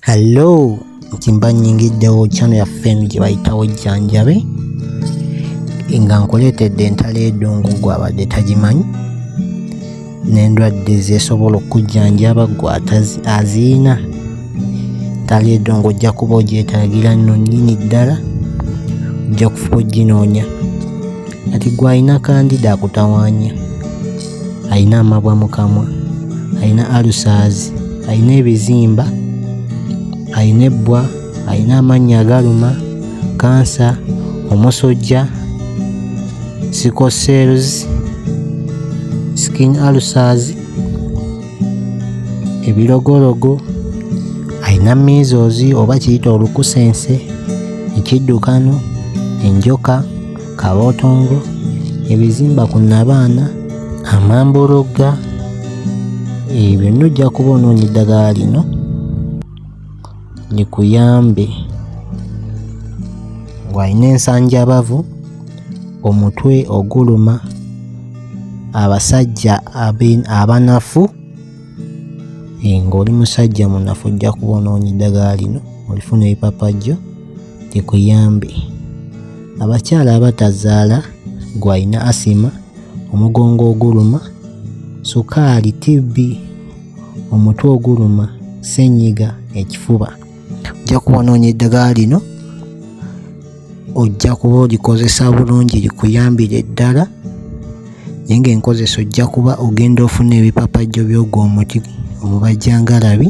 Hello, ntimba nyingiddewo channel ya fame gye bayitawo jjanjabe nga nkuleetedde entalo edungu gwabadde tagimanyi n'endwadde zesobola okujjanjaba gwe aziina entalo edungu ojja kuba ogyetagira nno nnyini ddala ojja kufuba oginoonya kati gwalina kandida akutawanya alina amabwa mu kamwa alina alusaazi alina ebizimba alina ebbwa alina amannya agaluma kansa omusojja sickle cells skin ulcers ebirogologo alina measles oba kiyita olukusense ekiddukano enjoka Kabotongo, ebizimba ku Nabaana, Amambologga, ebyo byonna ojja kuba onoonya eddagala lino likuyambe ng'alina ensanjabavu, omutwe oguluma, abasajja abanafu ng'oli musajja munafu ojja kuba onoonya eddagala lino olifune ebipapajjo. kikuyambe abakyala abatazaala gwalina asima omugongo oguluma sukaali tibbi omutwe oguluma senyiga ekifuba ojja kuwanoonya eddagala lino ojja kuba olikozesa bulungi likuyambire ddala naye ng'enkozesa ojja kuba ogenda ofuna ebipapajjo by'ogwo omuti omubajjangalabi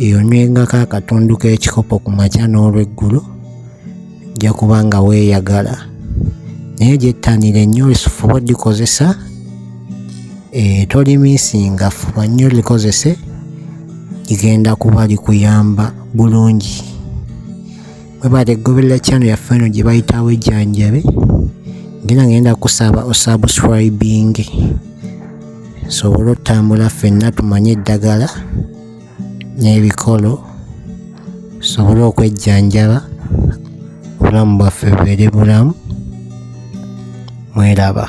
eyonywengako akatundu k'ekikopo ku makya n'olweggulo ojja kuba nga weeyagala naye gyettanira ennyo lisufuba odikozesa eh, tolimisinga fuba nnyo likozese ligenda kuba likuyamba bulungi webale goberera channel ya eno gye bayitawo ejjanjabe ngena ngenda kusaba osubscribing sobole otambula fenna tumanye eddagala n'ebikolo sobole okwejjanjaba obulamu bwaffe bubeere bulamu mweraba